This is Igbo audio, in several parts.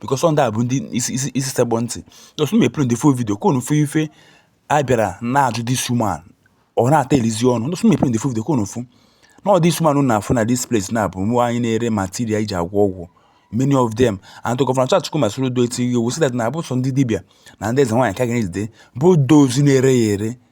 because ọ ndị a bụ ndị isi sekpọ ntị just me play the full video ka unu fụ ife a bịara na-ajụ this woman ọ na-ata elizi ọnụ just me play the full video ka unu fụ na ọ this woman unu na-afụ na this place na ọ bụ nwaanyị na-ere material e ji agwọ ọgwụ many of them and to gọvanọ Charles Chukwuma Soludo etigo iwu sị that na abụrọ sọ ndị dibịa na ndị eze nwaanyị ka a ga na-ejide both those na-ere ya ere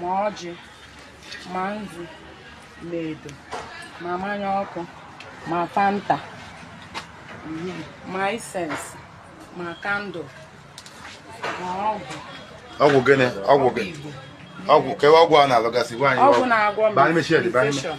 ma ọjị ma nzu ma edo ma mmanya ọkụ ma fanta ma incense ma candle ma ọgwụ ọgwụ gịnị ọgwụ gịnị ọgwụ kewa ọgwụ a na-alụgasị ọgwụ na-agwọ m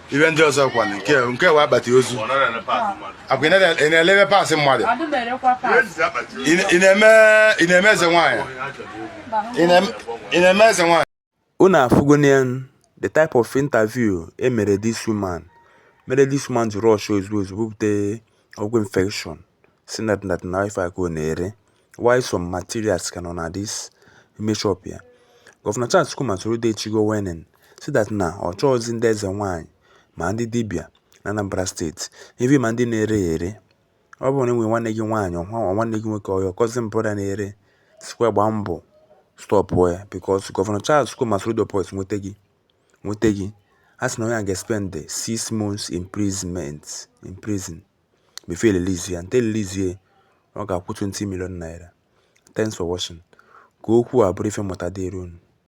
ife ndị ọzọ kwa nke nke wa akpati ozu akwa ị na-elebe parts mmadụ ị na-eme eze nwaanyị ị na-eme eze nwaanyị unu afụgonụ the type of interview e mere this woman mere this woman ji rush ozugbo ozugbo bupute ọgwụ infection Sị na that na ife a ka ọ na-ere while some materials ka nọ na this ime shop ya. Gọvanọ Charles Chukwuma Soludo etigo warning sị that na ọ chọghịzị ndị eze nwaanyị ma ndị dibịa na Anambra steeti even ma ndị na-ere ya ere. Ọ bụrụ na i nwere nwanne gị nwaanyị or nwanne gị nwoke or your cousin brother na-ere sịkwa ya gbaa mbọ stọpụọ ya because Gọvanọ Charles Chukwuma Soludo Boys nweta gị nweta gị a sị na onye a ga-spend six months in prison. before e release ya and e release ya ọ ga-akwụ 20 million naira thanks for watching ka okwu a bụrụ ife mmụta dịrị unu